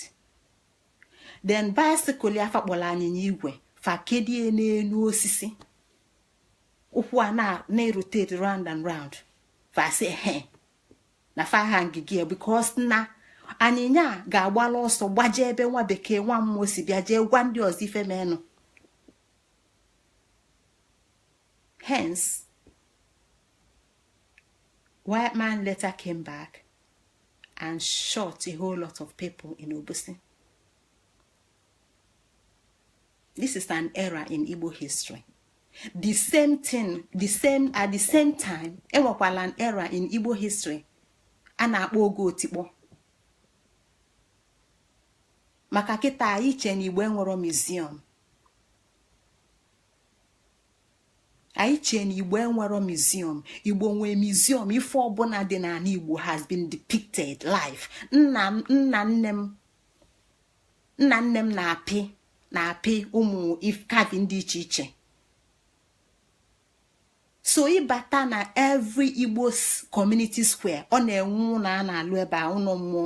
then bicycle ya fa kpọlụ anyịnya igwe fa kedie n'enu osisi ụkwụ a na-erotate round and round fa sị he na fa hangị ya because na anyịnya ga-agbala ọsọ gbaje ebe nwa bekee nwa mmụọ si bịa jee gwa ndị ọzọ ife menụ Hence, white man later came back and shot a whole lot of people in Obusi. This is an error in Igbo history. The same thing, the same at the same time, enwekwala an error in Igbo history a na-akpọ oge otikpọ. Maka kịta iche na Igbo enwero museum anyị chee na igbo enwero museum igbo nwee museum ife ọbụna dị n'anị igbo has been depicted live nna nna nne m nna nne m na-apị na-apị ụmụ carving dị iche iche so ị bata na every igbo community square ọ na-enwe ụnọ a na-alụ ebe a ụnọ mmụọ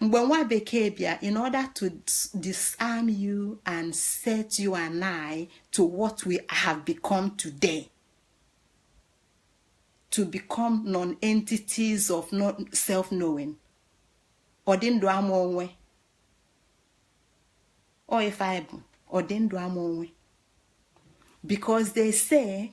mgbe nwa bekee bịa in order to disarm you and set you and I to what we have become today to become non-entities of self-knowing ọdị ndụ ama onwe ọ ife anyị bụ ọdị ndụ ama onwe because they say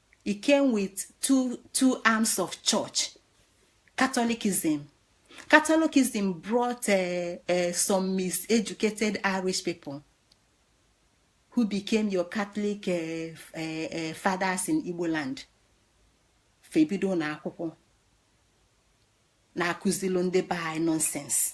he came with two two arms of church catholicism catholicism brought uh, uh, some miseducated irish people who became your catholic uh, uh, uh, fathers in igbo land fa ebido na akwụkwọ na-akụzilu ndị be anyị nonsense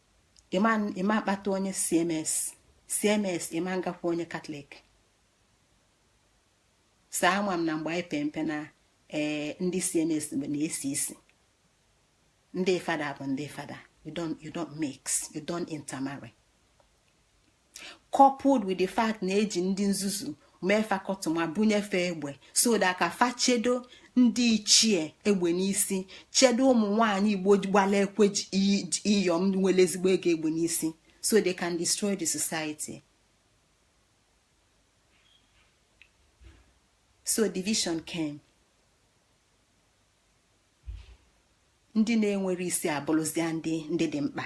ịma akpata onye cms cms ịma ngakwa onye catholic saa ama m na mgbe anyị pee mpe na ee eh, ndị cms na-esi isi ndị fada bụ ndị fada you don't you don't mix you don't intermarry coupled with the fact na eji ndị nzuzu mee fa kọtụma bunye fa egbe so that ka fa chedo ndị ichie egbe n'isi chedo ụmụ nwanyị igbo gbala ekwe iyom nwere ezigbo ego egbe n'isi so they can destroy the society so division came ndị na-enwerọ isi abụrụzia ndị ndị dị mkpa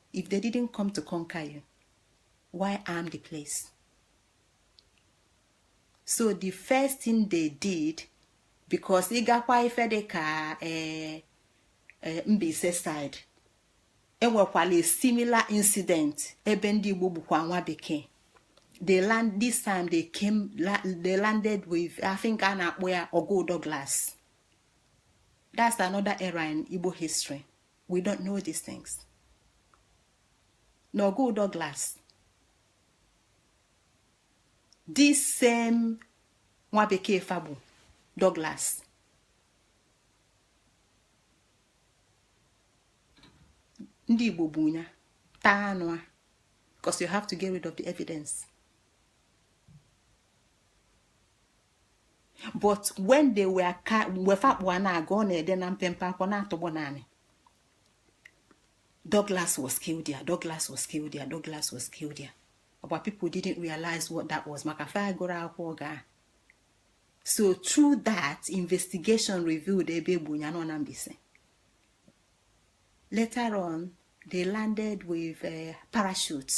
if they didn't come to conquer you why arm the place so the first thing they did because ị gakwa ife dị ka eh, eh, Mbaise side enwekwala a similar incident ebe ndị Igbo gbukwa nwa bekee they land this time they came they landed with I think a na-akpọ ya Ọgụ Douglas that's another era in Igbo history we don't know these things na ọgụ Douglas this same nwa bekee afa bụ Douglas ndị Igbo gbu ya taa anụ a because you have to get rid of the evidence but when they were ka mgbe fa kpụ a na-aga ọ na-ede na mpempe akwụkwọ na-atụgbọ n'anị Douglas was killed there Douglas was killed there Douglas was killed there Igbo people didn't realize what that was maka fa agụrọ akwụkwọ ga so through that investigation revealed ebe e gbu nya nọ na Mbaise later on they landed with uh, parachutes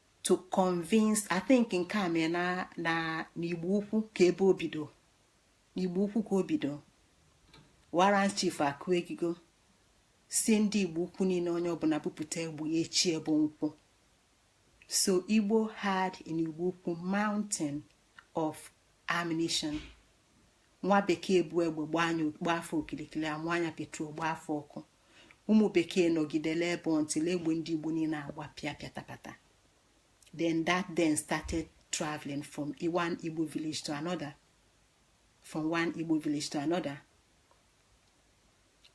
to convince i think nke a mee na na n'igbo ukwu ka ebe o bido n'igbo ukwu ka o bido warrant chief akụ egigo sị ndị igbo ukwu niine onye ọbụla bupụta egbe ya echi bụ nkwọ so igbo had in igbo ukwu mountain of ammunition nwa bekee bu egbe gbaa fa okilikili amụnye petrol gbaa fa ọkụ ụmụ bekee nọgidelụ ebe until egbe ndị igbo niine agbapịa pịatapata then that then started traveling from one igbo village to another from one igbo village to another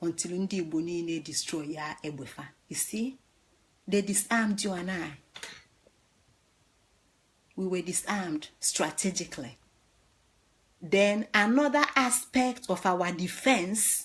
until ndị igbo niine destroy ya egbe fa you see they disarmed you and i we were disarmed strategically then another aspect of our defense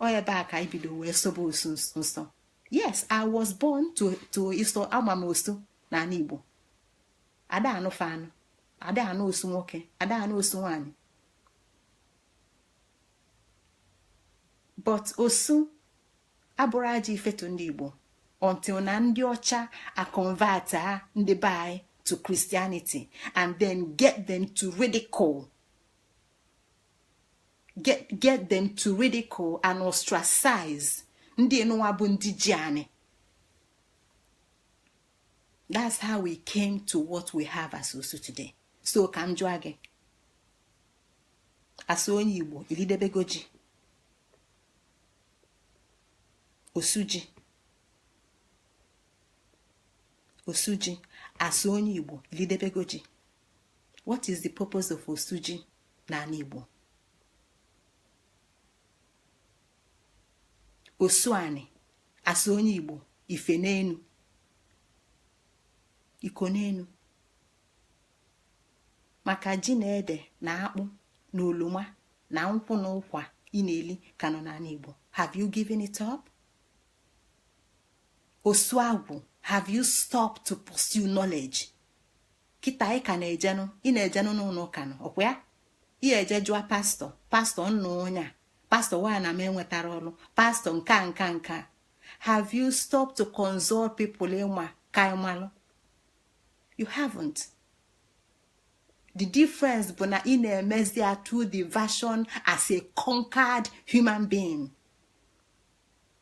ọ ebe a ka anyị bido wee sobe osu nsọ yes i was born to to ịsọ ama m osu n'anị igbo ada anụ fa anụ ada anụ osu nwoke ada anụ osu nwaanyị but osu abụrọ ajọ ife to ndị igbo until na ndị ọcha aconverta ndị be anyị to christianity and then get them to ridicule get get them to ridicule and ostracize ndị nụwa bụ ndị ji anị that's how we came to what we have as osu today so ka m jụọ gị as onye igbo i lidebego ji osuji osuji as onye igbo i lidebego ji what is the purpose of osuji n'anị Igbo osu anị as onye Igbo ife n'enu iko n'enu maka ji na ede na akpụ na oloma na nkwụ na ụkwa ị na-eli ka nọ n'anị Igbo have you given it up? osu agwụ have you stopped to pursue knowledge? kịta ị ka na-ejenụ ị na-ejenụ n'ụnọ ụka nụ ọkwa ya ị eje jụọ pastor pastor m nụ onye a pastor why na m enwetarọ ọlụ pastor nke a nke a nke a have you stopped to consult people ị ma ka ị malụ you haven't the difference bụ na ị na-emezi ya through the version as a conquered human being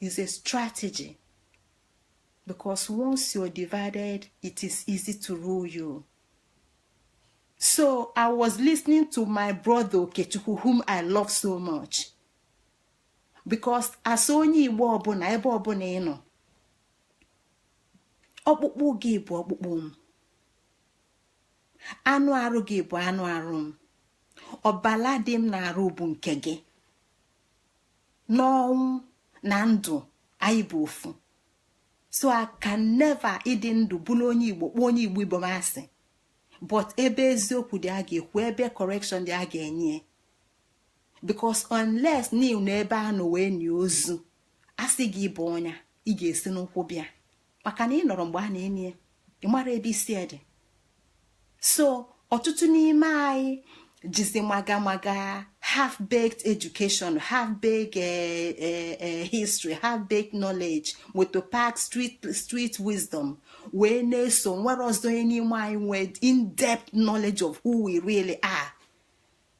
is a strategy because once you're divided it is easy to rule you so i was listening to my brother okechukwu whom i love so much because as onye igbo ọbụna ebe ọbụna ị nọ ọkpụkpụ gị bụ ọkpụkpụ m anụ arụ gị bụ anụ arụ m ọbala dị m n'arụ bụ nke gị n'ọnwụ na ndụ anyị bụ ofu so I can never ịdị ndụ bụrụ onye igbo kpọọ onye igbo ibe m asị but ebe eziokwu dị a ga-ekwu ebe correction dị a ga-enye because unless na ị nọ ebe a nọ wee nie ozu a sị gị bọnie ya ị ga-esi n'ụkwụ bịa maka na ị nọrọ mgbe a na-eni ya ị mara ebe isi dị so ọtụtụ n'ime anyị jizi maga maga half baked education half baked eh, eh, eh, history half baked knowledge motor park street street wisdom wee na-eso o nwerọzi onye n'ime anyị nwee in-depth knowledge of who we really are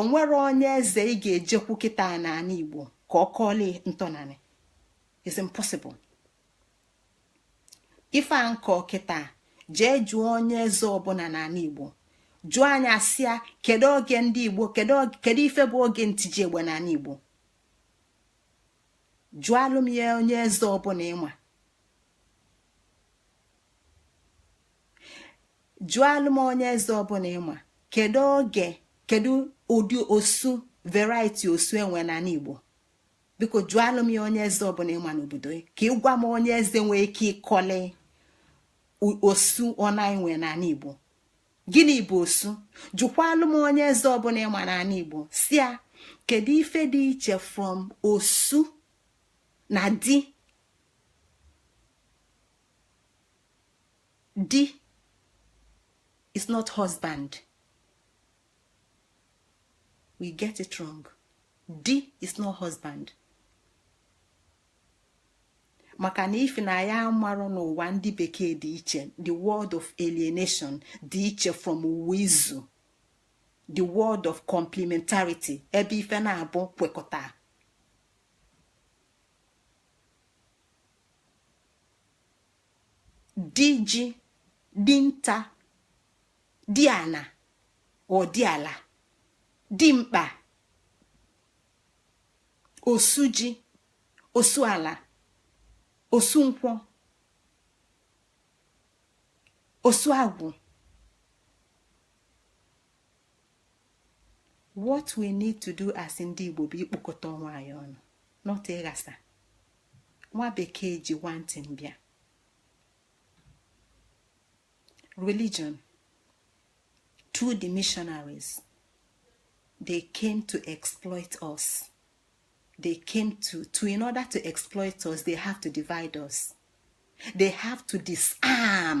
onwere onye eze ị ga-ejekwu kịta n'ala igbo ka ọ kọọla ntọnanị it's impossible ife a m kọ kịta jee jụọ onye eze ọbụna n'ala igbo jụa ya sị ya kedu oge ndị igbo kedu ife bụ oge ntiji egbe n'ala igbo jụalụ m ya onye eze ọbụna ị ma jụalụ m onye eze ọbụna ị ma kedu oge kedu ụdị osu variety osu e nwe n'ala igbo biko jụalụ m ya onye eze ọbụna ị ma n'obodo ya ka ị gwa m onye eze nwee ike ịkọli osu one e nwe n'ala igbo gịnị bụ osu jụkwalụ m onye eze ọbụna ị ma n'ala igbo sị ya kedu ife dị iche from osu na di di is not husband we get it wrong di is not husband maka na ife na ya amarụ n'ụwa ndị bekee dị iche the world of alienation dị iche from ụwa izu the world of complementarity ebe ife na-abụ kwekọta di ji di nta di ana or di ala di mkpa osu ji osu ala osu nkwọ osu agwụ what we need to do as ndị Igbo bụ ikpokọta onwe anyị ọnụ not ịghasa nwa bekee ji one thing bịa religion through the missionaries they came to exploit us they came to to in order to exploit us they have to divide us they have to disarm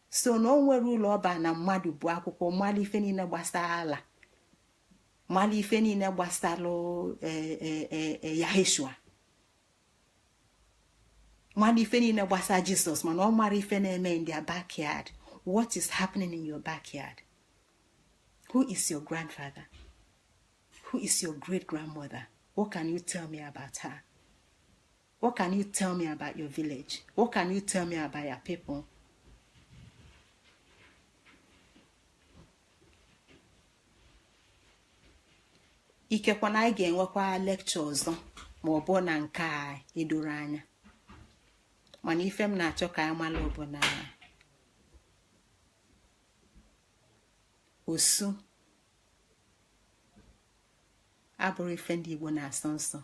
so na o nwere ulu ọ baa na mmadụ gụọ akwụkwọ malụ ife niile gbasara allah malụ ife niile gbasara e, e, e, yaheshua malụ ife niile gbasara jisọs mana ọ mara ife na-eme in their backyard what is happening in your backyard who is your grandfather who is your great grandmother what can you tell me about her What can you tell me about your village? What can you tell me about your people? ikekwe na anyị ga-enwekwa lecture ọzọ ma ọ bụ na nke a edoro anya mana ife m na-achọ ka anyị mara bụ na osu abụrụ ife ndị Igbo na-asọ nsọ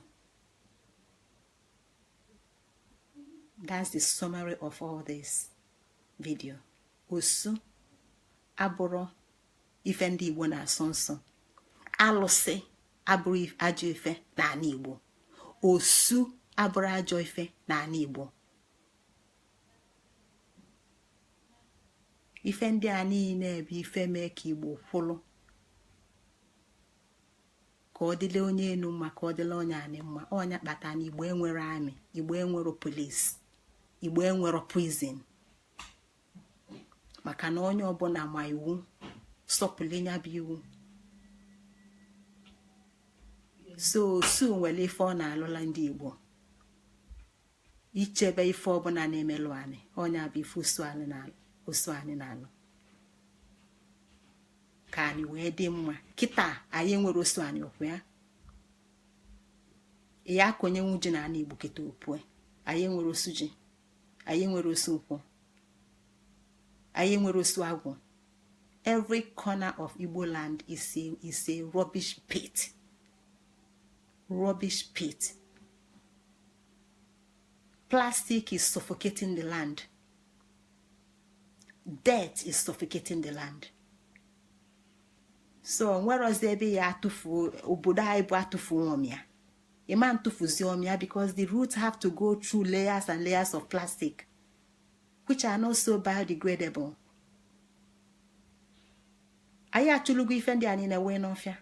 that's the summary of all this video osu abụrụ ife ndị igbo na-asọ nsọ alụsị abụrụ ajọ ife n'anị igbo osu abụrụ ajọ ife n'anị igbo ife ndị a niile bụ ife mee ka igbo kwụlụ ka ọ dịla onye enu mma ka ọ dịla onye anị mma ọ nya kpata na igbo enwere army igbo enwere police igbo enwere prison maka na onye ọbụla ma iwu sọpụlụ nya bụ iwu so osu nwere ife ọ na-alụla ndị igbo ichebe ife ọbụla na-emelụ anị ọ nya bụ ife osu anị na-alụ ka anị wee dị mma kịta anyị enwere osu anị okwu ya ya ka onye nwu ji na anị igbo kịta opue anyị enwere osu ji anyị enwere osu nkwụ anyị enwere osu agwụ every corner of igbo land is a is a rubbish pit rubbish pit plastic is suffocating the land dirt is suffocating the land so nwerozi ebe ya atụfu obodo anyị bụ atụfuo ọ mịa ị ma atụfuzi ọ mịa because the roots have to go through layers and layers of plastic which are not so biodegradable anyị achụlugo ife ndị a niine wee n'ọfịa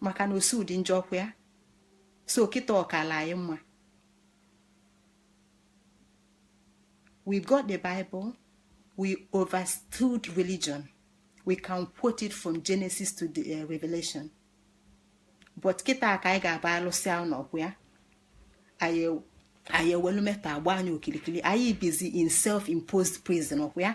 maka na osu dị njọ ọkwa ya so kịta ọ kala anyị mma we got the bible we overstood religion we can quote it from genesis to the uh, revelation but kịta ka anyị ga-aba alụsịa ụnọ ọkwa ya anyị ewelu metal agba anyị okilikili anyị bizi in self-imposed prison ọkwa ya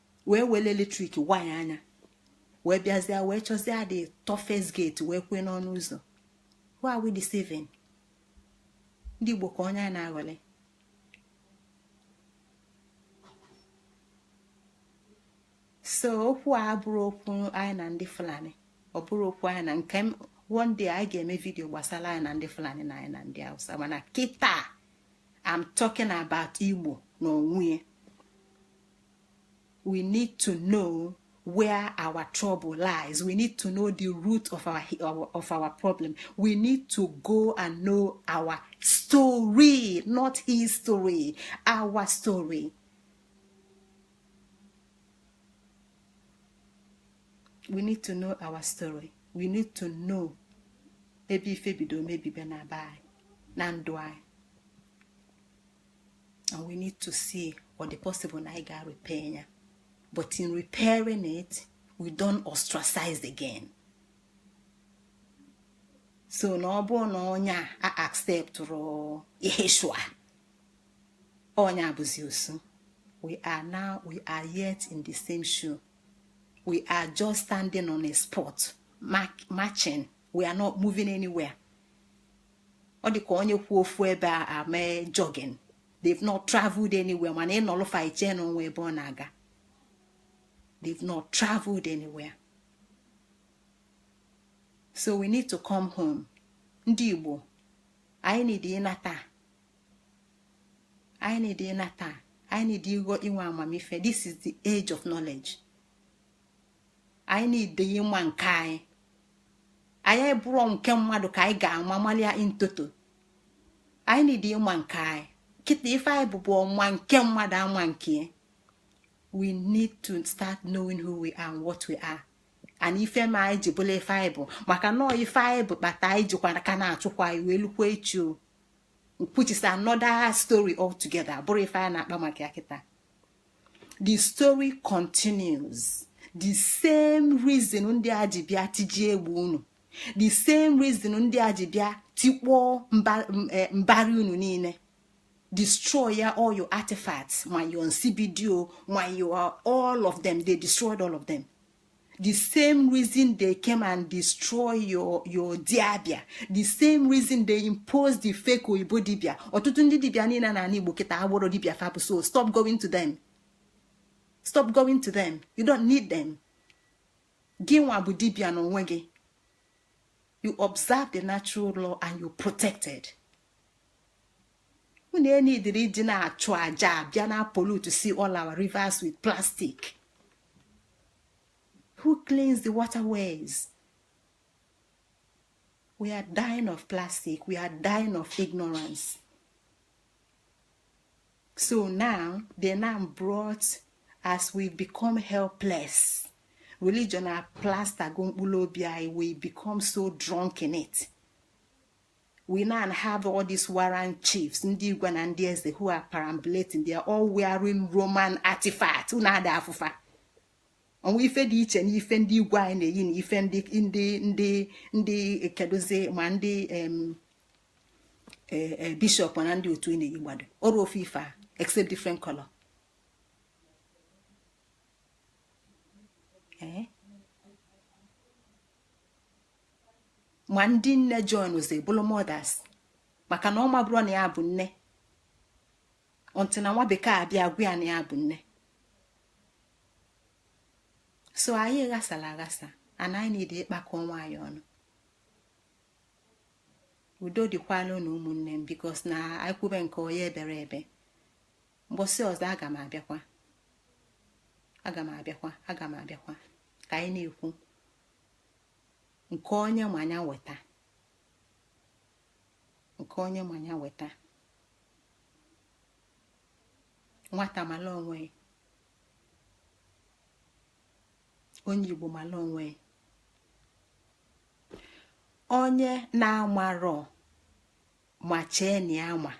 wee wele electric wire anyị wee bịazia wee chọzia the toughest gate wee kwee n'ọnụ ụzọ who are we deceiving ndị Igbo ka onye a na-aghọli so okwu a abụrọ okwu anyị na ndị Fulani ọ bụrọ okwu anyị na nke one day anyị ga-eme video gbasara anyị na ndị Fulani na anyị na ndị Hausa mana kịta I'm talking about Igbo n'onwe we need to know where our trouble lies we need to know the root of our, our of our problem we need to go and know our story not history our story we need to know our story we need to know ebe ife bido mebibe na be anyị na ndụ anyị and we need to see ọ dị possible na anyị ga-repair ya but in repairing it we don't ostracize again so na ọ bụrụ na onye a acceptịrọ Yeshua onye a bụzi osu we are now we are yet in the same shoe we are just standing on a spot marching we are not moving anywhere ọ dị ka onye kwụ ofu ebe eme jogging they've not traveled anywhere mana ị nọlụ far ị chee na o nwe ebe ọ na-aga they've not traveled anywhere so we need to come home ndị Igbo anyị need ịnata anyị need ịnata anyị need ịghọ inwe amamife this is the age of knowledge anyị need ịma nke anyị abụrọ nke mmadụ ka anyị ga-ama malia in toto anyị need ịma nke anyị kịta ife anyị bụbu ọ ma nke mmadụ ama nke we need to start knowing who we are and what we are and ife me anyị ji bụlụ ife anyị bụ maka na ọ ife anyị bụ kpata anyị jikwa ka na-achụkwa anyị wee lukwa echi o which is another story altogether bụrọ ife anyị na-akpa maka ya kịta the story continues the same reason ndị a ji bịa tijie unu the same reason ndị a ji bịa tikpọọ eh, mbari unu niine destroy ya all your artifacts ma your nsibidi o ma your all of them they destroyed all of them the same reason they came and destroy your your dibia the same reason they impose the fake oyibo dibia ọtụtụ ndị dibia niile na ala igbo kịta abụrọ dibia fa bụ so stop going to them stop going to them you don't need them gị nwa bụ dibia na onwe gị you observe the natural law and you protected unu enidiri ndị na-achụ aja abịa na pollute si all our rivers with plastic who cleans the waterways we are dying of plastic we are dying of ignorance so now they now brought as we become helpless religion a plaster go mkpụrụ obi anyị we become so drunk in it we now have all these warrant chiefs ndị igwe na ndị eze who are perambulating they are all wearing roman artifact unu ada afụ fa o nwe ife dị iche n'ife ndị igwe anyị na-eyi na ife ndị ndị ndị ndị kedụzi ma ndị e, e, bishọp na ndị otu ị na-eyi gbado bụrụ ofu ife a except different color eh? ma ndị nne joinzi bụrụ mothers maka na ọ mabụrọ na ya bụ nne until nwa bekee abịa gwa ya na ya bụ nne so anyị ghasara aghasa and anyị need ịkpakọ onwe anyị ọnụ udo dịkwalụ nụ ụmụnne m because na anyị kwube nke onye ebere ebe mbọsị ọzọ aga m abịakwa ka anyị na-ekwu nke onye ma ya weta nke onye ma ya weta nwata mala onwe onye igbo mala onwe onye na-amarọ ma chee na ya ma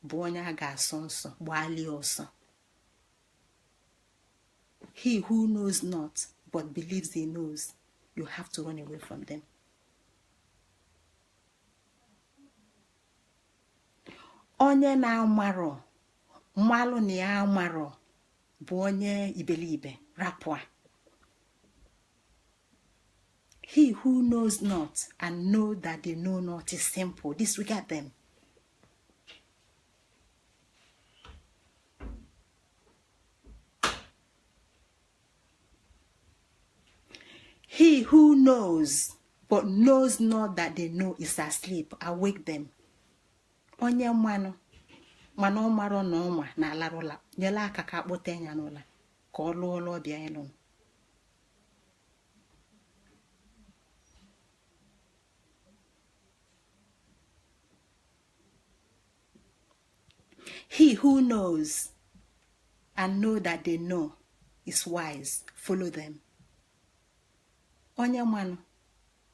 bụ onye a ga-asọ nsọ gbalie ọsọ he who knows not but believes he knows you have to run away from them onye na-amarọ malụ na ya amarọ bụ onye iberibe rapụ ya he who knows not and know that they know not is simple disregard them he who knows but knows not that they know is asleep awake them onye manụ mana ọ marọ na ọ ma na-alarụ ụla nyela aka ka a kpọta ya n'ụla ka ọ lụọ ọlụ ọ bịa ịlụ he who knows and know that they know is wise follow them onye manụ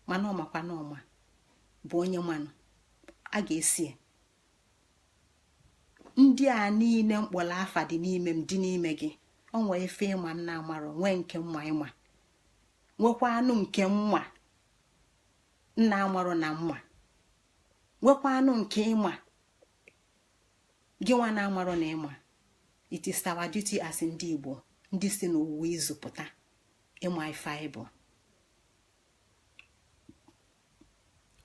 mana ọ makwa na ọ ma bụ onye manụ a ga-eso ndị a niile m kpọrọ afa dị n'ime m dị n'ime gị o nwee ife ị ma m na-amarọ nwee nke m ma ị ma nwekwanụ nke m ma m na-amarọ na m ma nwekwanụ nke ị ma gị nwa na-amarọ na ị ma it is our duty as ndị Igbo ndị si n'ụwa izu pụta ịma ife anyị bụ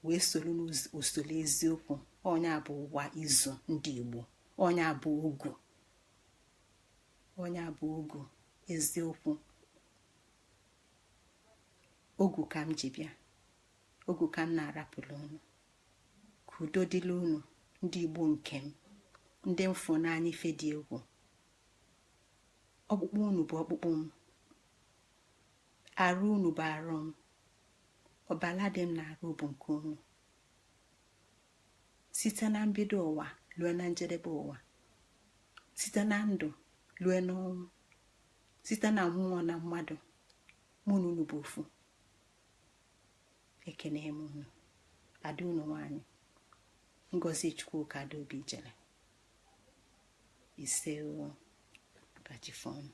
wee soro n'usoro eziokwu ọ nya bụ ụwa izu ndị Igbo ọ nya bụ ogu ọ nya bụ ogu eziokwu ogu ka m ji bịa ogu ka m na-arapụrụ unu ka udo dịla unu ndị igbo nke m ndị m fụ n'anya ife dị egwu ọkpụkpụ unu bụ ọkpụkpụ m arụ unu bụ arụ m ọbala dị m n'arụ bụ nke unu site na mbido ụwa lue na njedebe ụwa site na ndụ lue n'ọnwụ site na mmụọ na mmadụ mụ na unu bụ ofu ekene m unu ada unu nwanyị ngozi chukwuka adaobijele isee ka chi fo nụ